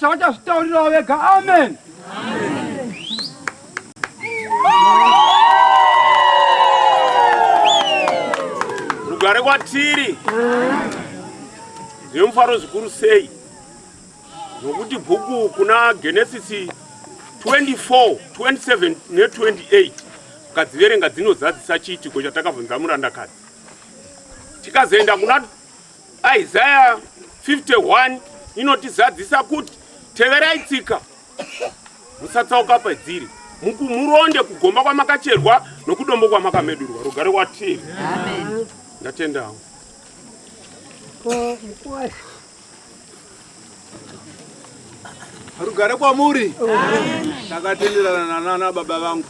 Vachazvitaurirawo vega. Amen. Rugare kwatiri zvemufaro zvikuru sei nokuti bhuku kuna Genesisi 24, 27 ne28 ukadziverenga dzinozadzisa chiitiko chatakabvunza murandakadzi tikazoenda kuna Isaya 51 inotizadzisa kuti teverai tsika musatsauka padziri mukumuronde kugomba kwamakacherwa nokudombo kwamakamedurwa rugare kwatiri ndatendawo rugare kwamuri ndakatenderana nanana baba vangu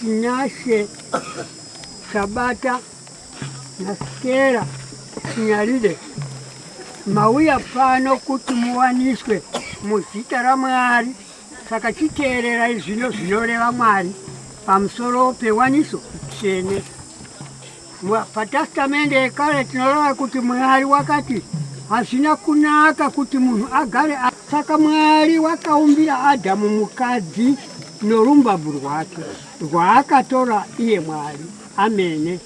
Tinashe Sabata naStella Chinyarire, mauya pano kuti muwaniswe muzita raMwari, saka chiteererai zvino zvinoreva Mwari pamusoro pewaniso tsvene. Patastamende yekare tinorava kuti Mwari wakati hazvina kunaka kuti munhu agare saka Mwari wakaumbira Adhamu mukadzi norumbabvu rwake rwaakatora iye Mwari amene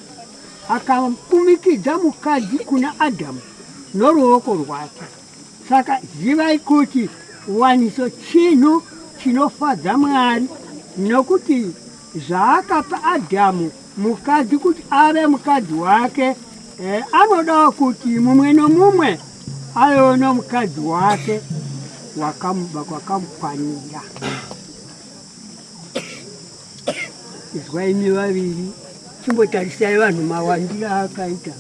akakumikidza mukadzi kuna Adhamu noruoko rwake saka zivai kuti waniso chinhu chinofadza Mwari nokuti zvaakapa Adhamu Mukadzi kuti ave mukadzi wake eh, anodawo kuti mumwe nomumwe avewo nomukadzi wake wakamuba kwakamukwanira. Izwai imi vaviri, chimbotarisai vanhu mawandira akaita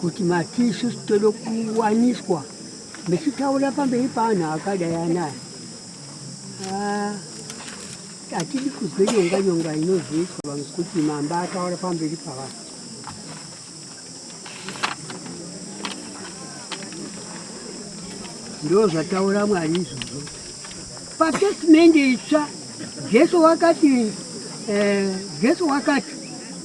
kuti mati isusu tode kuwaniswa mechitaura pamberi paanhu akadai anaya. Ah. Hatidi kuzwe nyonga nyonga inozoitwa vanhu kuti mambo ataura pamberi pavanhu. Ndoo zvataura Mwari izvozvo. Patestment itsva Jesu wakati eh, Jesu wakati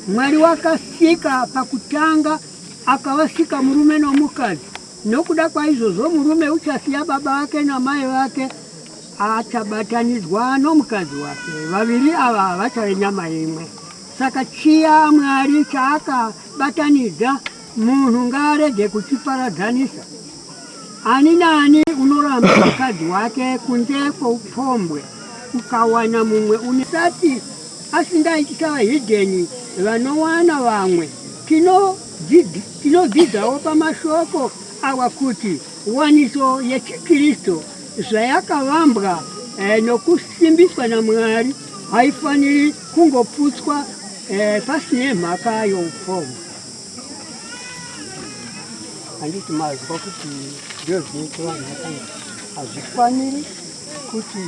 Mwari wakasika pakutanga akavasika murume nomukadzi nokuda kwaizvozvo murume uchasiya baba vake namai vake Achabatanidzwa nomukadzi wake, vaviri ava havachave nyama imwe. Saka chiya Mwari chaakabatanidza, munhu ngaarege kuchiparadzanisa. Ani naani unoramba mukadzi wake kunze kwoupombwe, ukawana mumwe une sati asingaiti savahidheni vanowana vamwe. Tinodzidzawo pamashoko awa kuti waniso yechiKristu zvayakavambwa eh, nokusimbiswa naMwari haifaniri kungoputswa eh, pasine mhaka youpfumi. Handiti mazwa kuti ndizvo zvinoitwa mhaka hazvifaniri kuti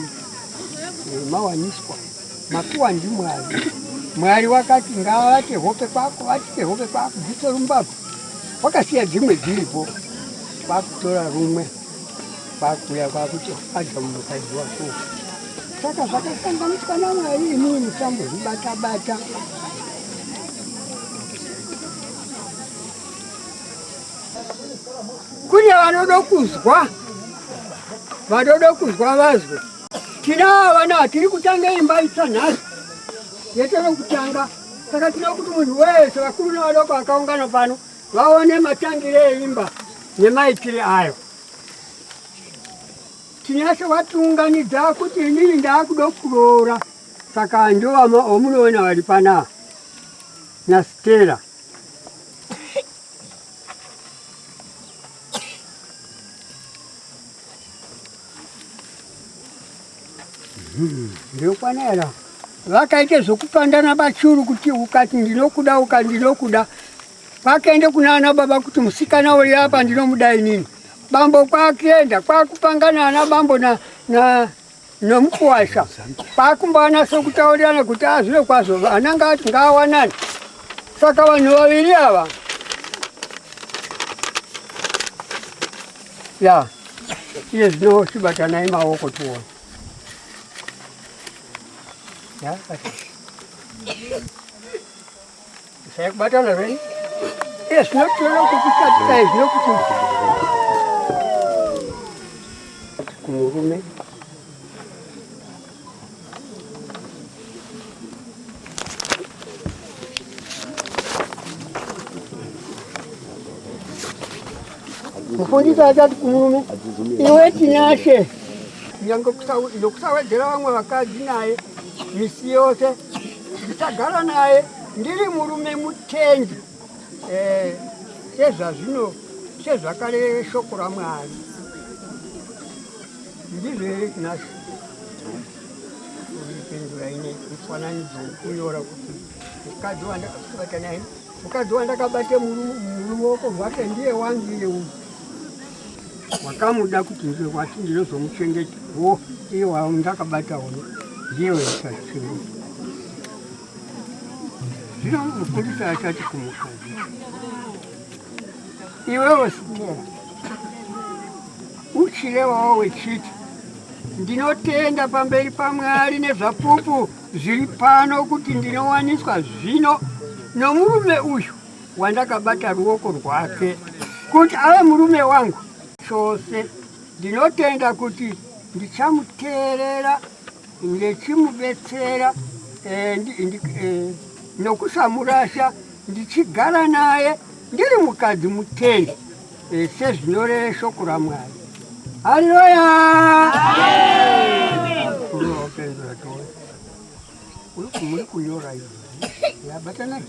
eh, mawaniswa makuwa ndiMwari. Mwari wakati ngavate hope kwako, vatite hope kwako, dzitorumbapo wakasiya dzimwe dziripo kwakutora rumwe kwakuuya kwakuti adya munhukadzi wako saka zvakasanganiswa namwari imii musambozvibatabata kune vanoda kuzwa vanoda kuzwa vazwe tinaa vana tiri kutanga imba itsva nhasi yetove kutanga saka tinoda kuti munhu wese vakuru nevadoko vakaungana pano vaone matangire eimba nemaitire ayo. Tinyashe watiunganidza kuti inini ndaakuda kuroora saka ndovama omunoona vari panaa naStella. Ndinokwana here apa? Vakaita zvokupandana bachuru kuti ukati ndinokuda uka ndinokuda. Kwakaenda kunana baba kuti musikana uyu apa ndinomuda inini. Bambo kwakuenda kwakupangana ana bambo na na nomukuwasha. Kwakumbawana sokutaurirana kuti azvino kwazvo vana ngati ngawanani. Saka vanhu vaviri ava ya iye zvino chibatanai maoko tione saya kubatana zveni iye zvino tiona kukuchatisa izvino kuti kumurume mufundisi achati kumurume iwe tinashe nyange nokusawedzera vamwe vakadzi naye misi yose ndichagara naye ndiri murume mutengi eh, sezvazvino sezvakareve shoko ramwari Ndizvo here tinazvo kuipindura ine mufananidzo wekunyora kuti mukadzi wandakabata naye mukadzi wandakabata muruoko rwake ndiye wangu iye uyu wakamuda kuti ndiwe wati ndinozomuchengeta wo iye wandakabata uno ndiye waisazichengeta zvino mufundisi achati kumukadzi iwewe sitera Uchirevawo wechiti ndinotenda pamberi paMwari nezvapupu zviri pano kuti ndinowaniswa zvino nomurume uyu wandakabata ruoko rwake kuti ave murume wangu chose. Ndinotenda kuti ndichamuteerera ndichimubetsera eh, ndi- ndi- eh, nokusamurasha ndichigara naye ndiri mukadzi mutende eh, sezvinoreva shoko ramwari haleluya Mukuru wapindura tone. Uri ku- muri kunyora izvi yabatanai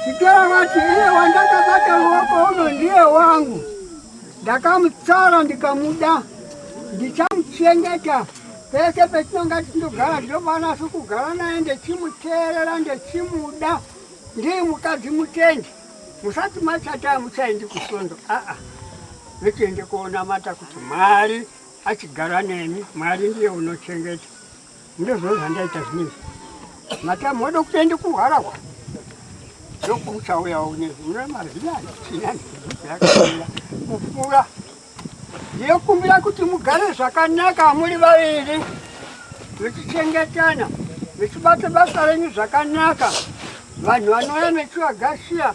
Chikera vati iye wandakabata ruoko uno ndiye wangu, ndakamutsara ndikamuda, ndichamuchengeta pese petinonga tichindogara, ndinofanira kugara naye ndechimuteerera, ndechimuda. Ndiye mukadzi mutendi, musati machata muchaendi kusondo, aa vechiende koonamata kuti Mwari achigara nemi, Mwari ndiye unochengeta. Ndozvo zvandaita zvinezvi. Matamu wada kutoenda kuharahwa. Ndokuchauya unezvi. Mune maziva achina ndikuchauya. Mufura. Ndinokumbira kuti mugare zvakanaka muri vaviri. Muchichengetana. Muchibata basa renyu zvakanaka. Vanhu vanouya mechivagashiya.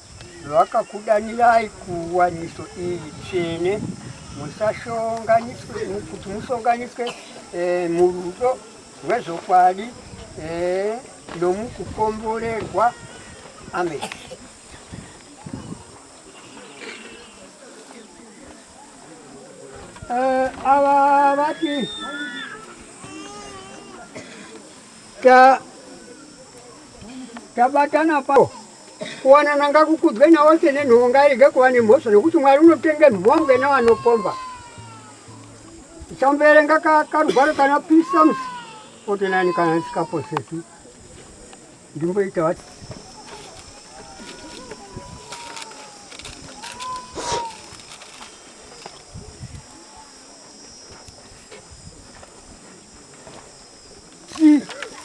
Vakakudanirai kuwaniso iyi tsvene kuti musonganiswe eh, murudo rwezvokwadi eh, nomukukomborerwa. Amen. Eh, ava vati tabatana pa Kuwanana ngakukudzwe naose nenhoo ngairege kuva nemhosva nokuti Mwari unotenge mhombwe navanopomba. Ichamboverenga ka, karugwaro kana Psalms 49 kana ndisikaposeki ndimboita vati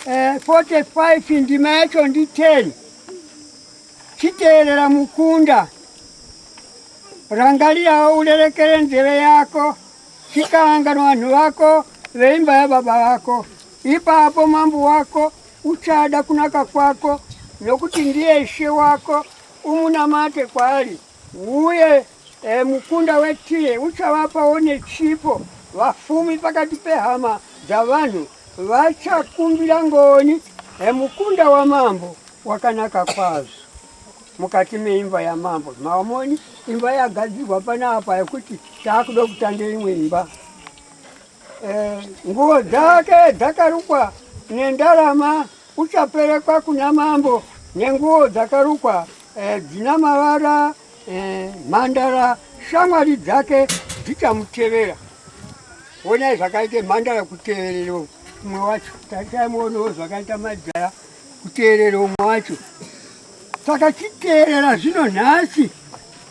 45 eh, ndima yacho ndi 10 chiteerera mukunda rangarirawo urerekere nzeve yako chikaangana vanhu vako veimba yababa vako ipapo mambo wako uchada kunaka kwako nokuti ndiye ishe wako umunamate kwaari Uye e, mukunda weTire uchavapawo nechipo, vafumi pakati pehama dzavanhu vachakumbira ngoni e, mukunda wamambo wakanaka kwazvo mukati meimba yamambo. Maomoni imba yagadzirwa panapa yekuti taakuda kutanga imwe imba e, nguo dzake dzakarukwa nendarama uchaperekwa kuna mambo nenguo dzakarukwa Eh, dzina mavara eh, mhandara shamwari dzake dzichamutevera onai zvakaita mhandara kuteverera umwe wacho tataimuonawo zvakaita majaya kuteerera umwe wacho saka chiteerera zvino nhasi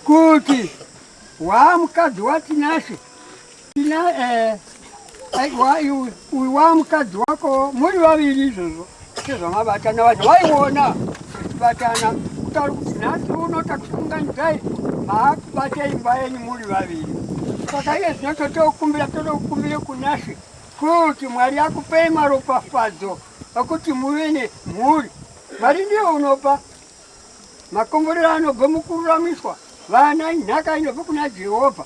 kuti waa mukadzi watinashe Tina eh, uyu wa mukadzi wako muri vaviri izvozvo sezvamabatana vacho vaiona kubatana kutari kuti nhasi uno takusunganidzai maakubata imba yenyu muri vaviri saka iye zvino totokumbira totokumbire kunashe kuti mwari akupei maropafadzo akuti muve nemhuri mwari ndiye unopa makomborero anobva mukururamiswa vana inhaka inobva kuna jehovha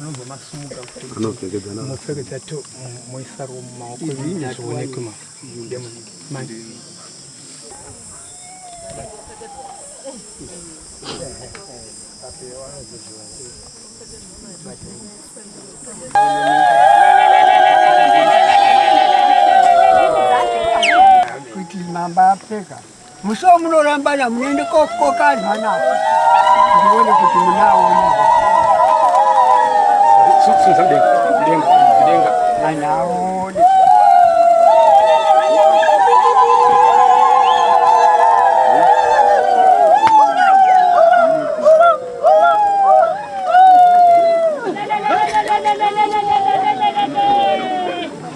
anobva masumuka anopfekedzana mopfekedza to moisa ro mumaoko zvionekwe ma manje kuti mamba apfeka Musoo munorambana munoende kokoka anhu anako ndione kuti munaona anhu aone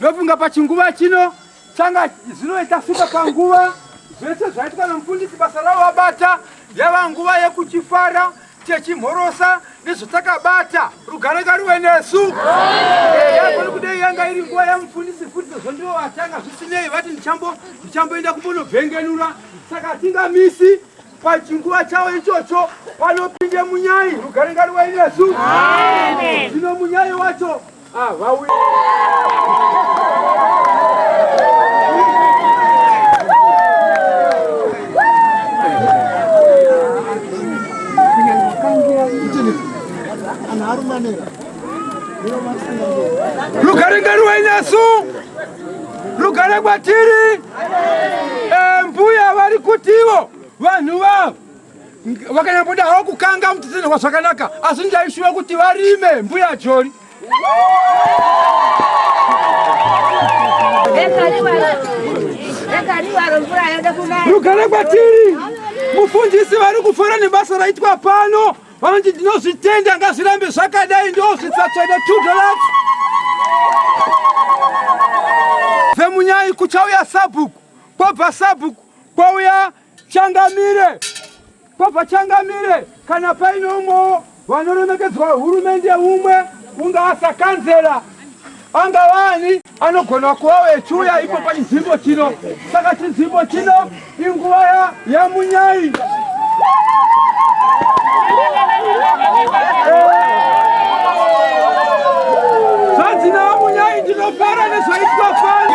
ndofunga pachinguva chino changa zvinoita fika panguva zvese zvaitwa namufundisi basa ravo vabata yava nguva yekuchifara techimhorosa nezvatakabata rugare ngaruve nesu yagoni kudei yanga iri nguva yamufundisi futi sezvo ndivo vatanga zvisinei vati ndichamboenda kumbonobvengenura saka hatingamisi pachinguva chavo ichocho vanopinde munyai rugare ngaruve nesu zvino munyai wacho lugare ngani wenyasu lugare kwatiri eh, mbuya vari kutivo vanhu vavo vakanyamboda havo kukanga mutitenehwa zvakanaka asi ndaishuva kuti varime mbuya jori rugare kwatiri mufundisi vari kufara nebasa raitwa pano vanoti ndinozvitenda ngazvirambe zvakadai ndozvitsatswene 2 dollars vemunyai kuchauya sabhuku kwabva sabhuku kwauya Changamire kwabva Changamire kana paine umwewo vanoremekedzwa hurumende umwe ungaa sakanzera angavani anogona kuva vechiuya ipo pachinzvimbo chino saka chinzvimbo chino inguva yamunyai zvanzi naamunyai ndinofara nezvaitwa fani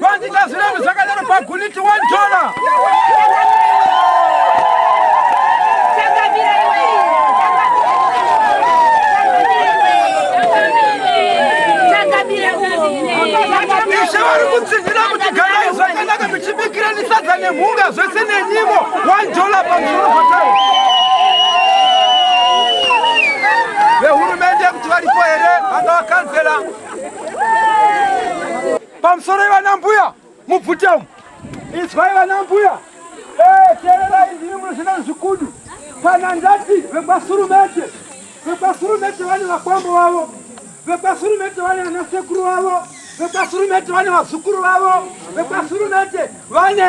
Vandiita zviremu zvakadaro paguniti one dollar. Ishe vari kutsinhira kuti garai zvakanaka muchibikira nisadza nemhunga zvese nenyimo one dollar pamusoro patari vehurumende kuti varipo here vanga vakanzela Pamusoro ivana mbuya mubvute umu. Izwai vana mbuya. Eh, tererai ndiri munozvina zvikudu. Kana ndati vekwasurumete. Vekwasurumete vane vakwambo vavo. Vekwasurumete vane ana sekuru vavo. Vekwasurumete vane vazukuru vavo. Vekwasurumete vane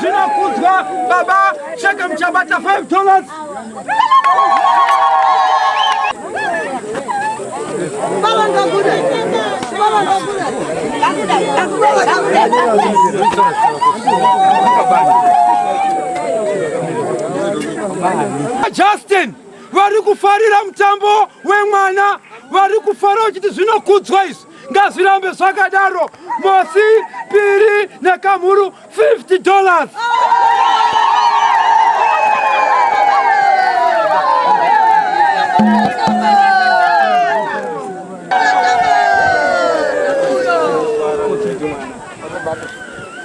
Zvinokudzwa baba Sheke muchabata 5 dollars. Baba ngakuda. Baba ngakuda. Ngakuda. Ngakuda. Ngakuda. Justin vari kufarira mutambo wemwana vari kufara vachiti zvinokudzwa izvi ngazvirambe zvakadaro mosi piri nekamhuru 50 dollars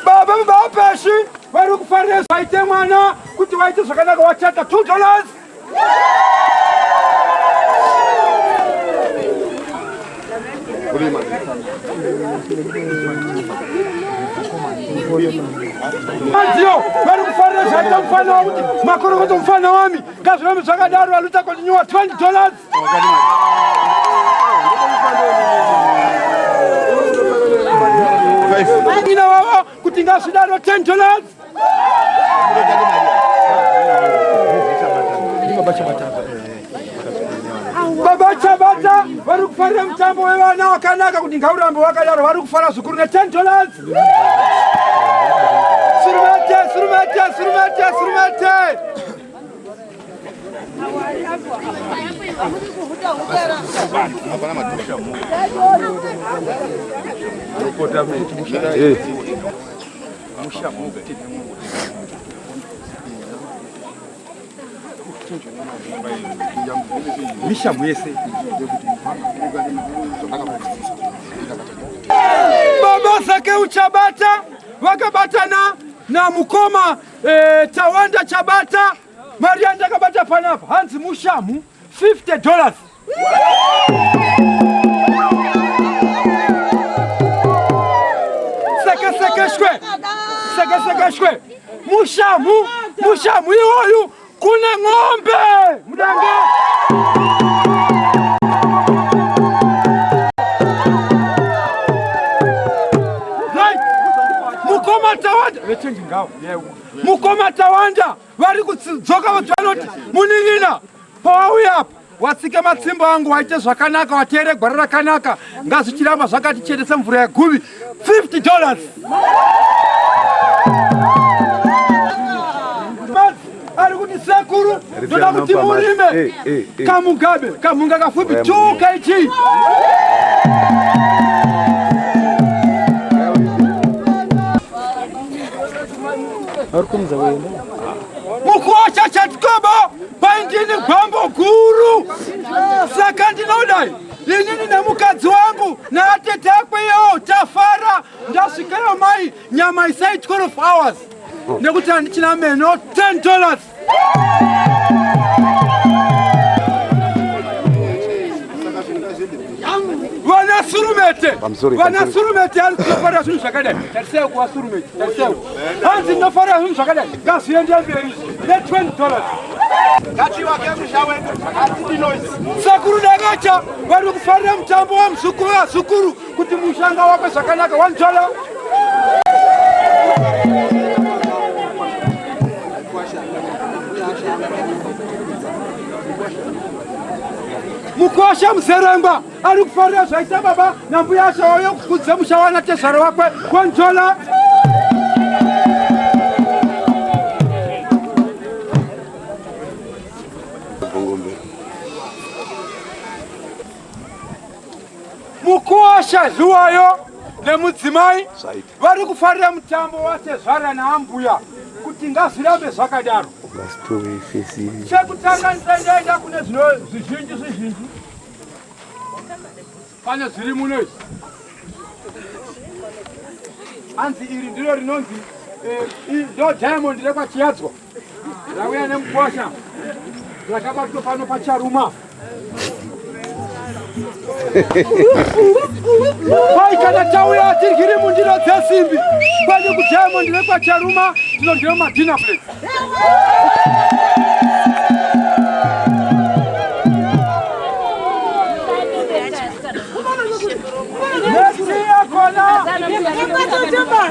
baba mubapeshi vari kufarira zvaite mwana kuti waite zvakanaka wachata 2 dollars Madziyo vari kufarira zvaita mufana wakuti makorokoto mufana wami ngazvirambe zvakadaro valuta kontinua 20 dollars ina vavo kuti ngazvidaro 10 dollars baba chabata vari kufarira mutambo wevana wakanaka kuti ngaurambe wakadaro vari kufara zvikuru ne10 dollars surumete surumete surumete surumete mishamu yese baba sake uchabata wakabatana na mukoma eh, Tawanda Chabata Mari yandakabata panapa hanzi mushamu 50 dollars. Seke seke shwe. Seke seke shwe. Mushamu, mushamu iwoyu kuna ng'ombe. Mudanga. Right. Mukoma tawada. Vechengi ngawo. Yeah. Mukoma Tawanda vari kudzoka kuti vanoti munin'ina pawauya apa watsike matsimbo angu waite zvakanaka wateere gwara rakanaka ngazvichiramba zvakati chete semvura yeguvi 50 dollars ari kuti sekuru ndoda kuti murime eh, eh, eh. kamugabe kamhunga kafupi 2 kg Mukosha chatikobo paindini gwambo guru saka ndinodai inini nemukadzi wangu naatete akwe yewo tafara ndasvikeyo mai nyama isai 12 hours nekuti handichina meno 10 dollars vanasurumete vanasurumete ari kunofarira zvinhu zvakadai tarisai kuvasurumete tarisai hanzi ndinofarira zvinhu zvakadai ngazviende mberi ne 20 dollars sekuru dakacha vari kufarira mutambo wamuzukuru vazukuru kuti mushanga wako zvakanaka wanzvala mukosha muzeremba ari kufarira zvaita baba nambuya asha wauyo kukudze musha wana tezvaro wakwe wanzvala Mukosha Zhuwayo nemudzimai vari kufarira mutambo watezvara naambuya kuti ngazvirambe zvakadaro. Chekutanga ndisaendaenda kune zvizhinji zvizhinji pane zviri muno izvi hanzi iri ndiro rinonzi eh, ndo diamond rekwachiyadzwa Ndauya nemukwasha zvakabatwa pano pacharuma kwai kana tauya tirwiri mundiro dzesimbi kwani kujamo ndive kwacharuma tinodyiwa madina plate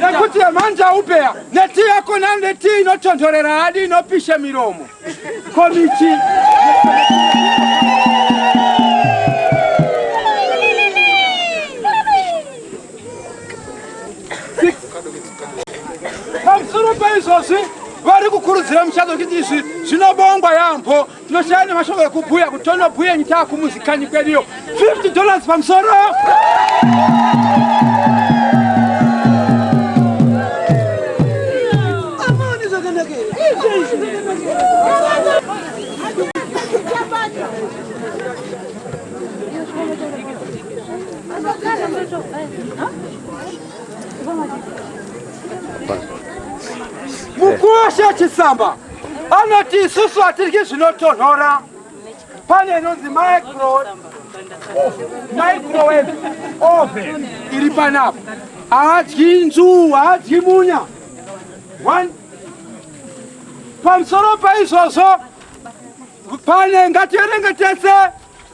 nekuti yemanja upeya Neti yako na neti inotonhorera hadi inopisha miromo komichi pamusoro paizvozvi vari kukurudzira muchato kuti izvi zvinobongwa yaambo Tinoshaya nemashoko ekubhuya kuti tonobhuya nyika kumuzi kanyi kweduyo 50 dollars pamusoro Mukuwasha Chisamba anoti isusu hatiryi zvinotonhora pane inonzi microwave oven iri panapa haadyi nzuu haadyi munya pamusoro paizvozvo pane ngativerenge tese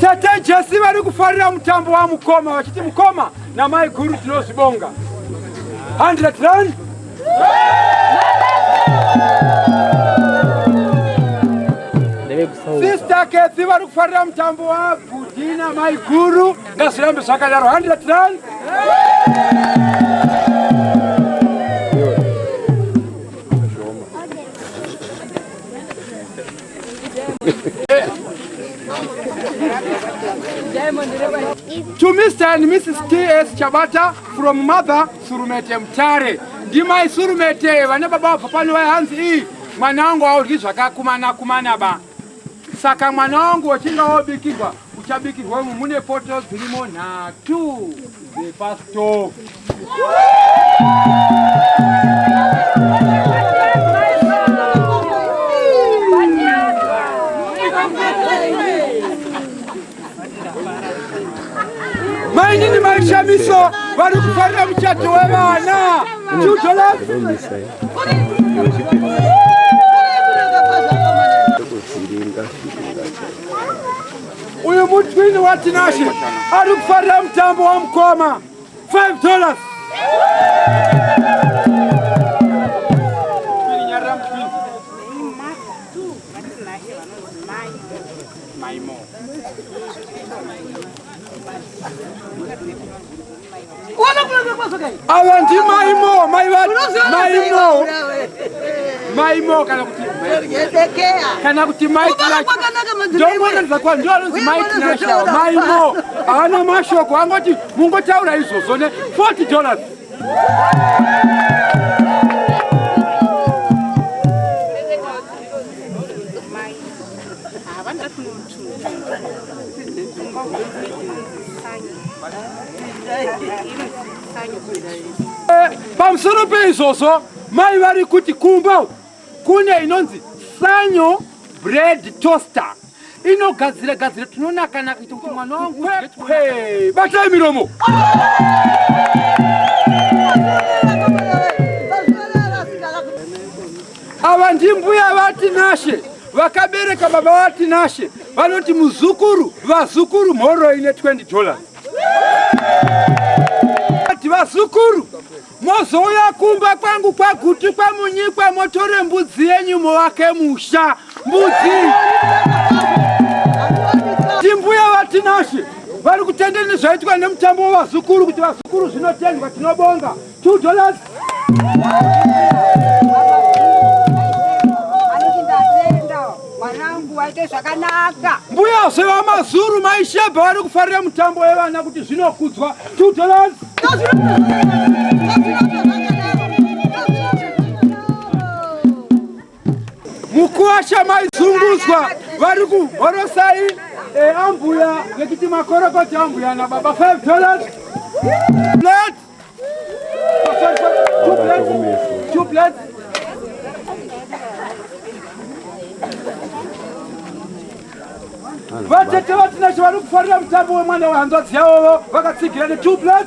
Tete Jesi vari kufarira mutambo wa mukoma vachiti mukoma na mai guru tinozvibonga 100 rand Sister Kathy vari kufarira mutambo wa bhudhi na mai guru Ngazvirambe zvakadaro 100 rand. To Mr. and Mrs. T.S. Chabata from mother Surumete Mtare. Ndimai Surumete vane baba vabva pano vayanzi iyi mwana wangu audyi zvakakumana kumana ba. Saka mwana wangu wachinga wobikirwa uchabikirwa umu mune poto dzirimo nhatu dzepastove. mainini maishamiswa vari kufarira muchato wevana uyu mutwini watinashe ari kufarira mutambo wamukoma 5 dollars Maimo. Ava ndi maimo, mai vati maimo. Maimo kana kuti kana kuti mai ndomona ndizakwa ndio anonzi mai tinasha maimo havana mashoko angoti mungotaura izvozvo ne 40 dollars havana pamusoro peizvozvo mai vari kuti kumba kune inonzi sanyo bread toaster inogadzira gadzira tinonakanaka kuita kuti mwana wangu kwekwe batai miromo Ava ndimbuya vaTinashe vakabereka baba vaTinashe vanoti muzukuru vazukuru mhoro ine 20 dollars ati vazukuru mozouya kumba kwangu kwaguti kwamunyikwa motore mbudzi yenyu movake musha mbudzi timbuya vaTinashe vari kutenda nezvaitwa nemutambo wevazukuru kuti vazukuru zvinotendwa tinobonga Two dollars. Mbuya zvevamazuru maishebha vari kufarira mutambo wevana kuti zvinokudzwa two dollars. Mukuwasha maizungudzwa vari kuhorosai eh, ambuya vekiti makorokoti ambuya nababa five dollars. Let vatete vatinashe vari kufarira mutambo wemwana wehanzvadzi yavovo vakatsigira ne two plus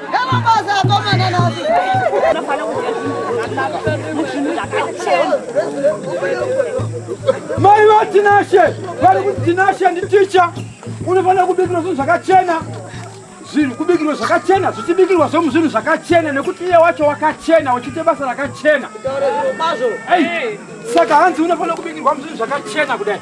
Mai vatinashe vari kuti tinashe nditicha unofanira kubikirwa zvinhu zvakachena zvinhu kubikirwa zvakachena zvichibikirwa zvomu zvinhu zvakachena nekuti iye wacho wakachena uchiite basa rakachena saka hanzi unofanira kubikirwa muzvinhu zvakachena kudai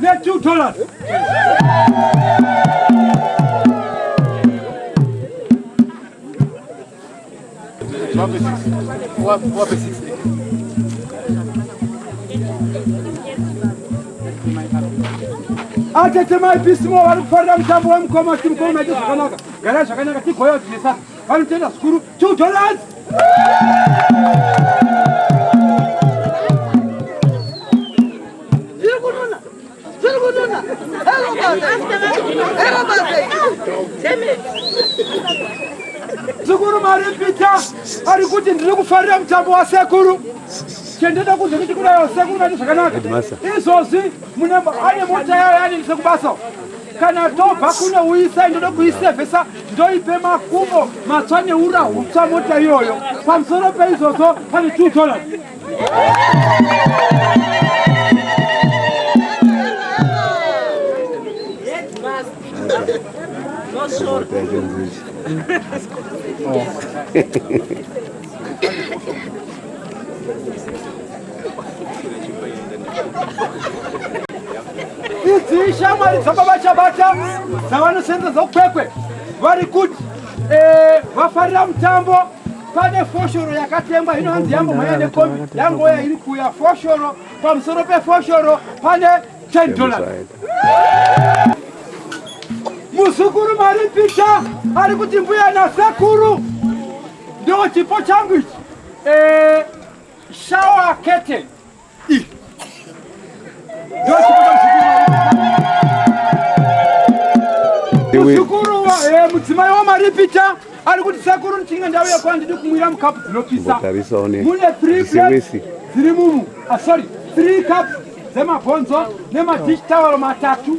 Let you tell us. Wape sisi. Wape, wape sisi. atetemai pisimo vari kufarira mutambo wemukoma kuti mukoma maite zvakanaka gara zvakanaka tigoya kuti nesaka vanotenda zvikuru two dollars Sekuru maripita ari kuti ndiri kufarira mutambo wasekuru chendeda kunze kuti kudayo sekuru vati zvakanaka izvozvi mune ane mota yayo yanendise kubasa kana ndobva kuno uisa ndoda kuisevhesa ndoipe makumbo matswa neura hutswa mota iyoyo pamusoro peizvozvo pane two dollars idzi shamwari dzababa chabata dzavanosenza dzokwekwe vari kuti eh, vafarira mutambo pane foshoro yakatengwa hino hanzi yambomhanya nekombi yangoya iri kuya foshoro pamusoro pefoshoro pane 10 dollars muzukuru maripicha ari kuti mbuya nasekuru ndo chipo changu ichi eh, shawa kete mudzimai wamaripita ari kuti sekuru ndichinge ndauya kwa ndidi kumwira mukapu dzinopisa mune three plates dziri mumu ah, sorry three cups dzemabhonzo nemadish tawaro matatu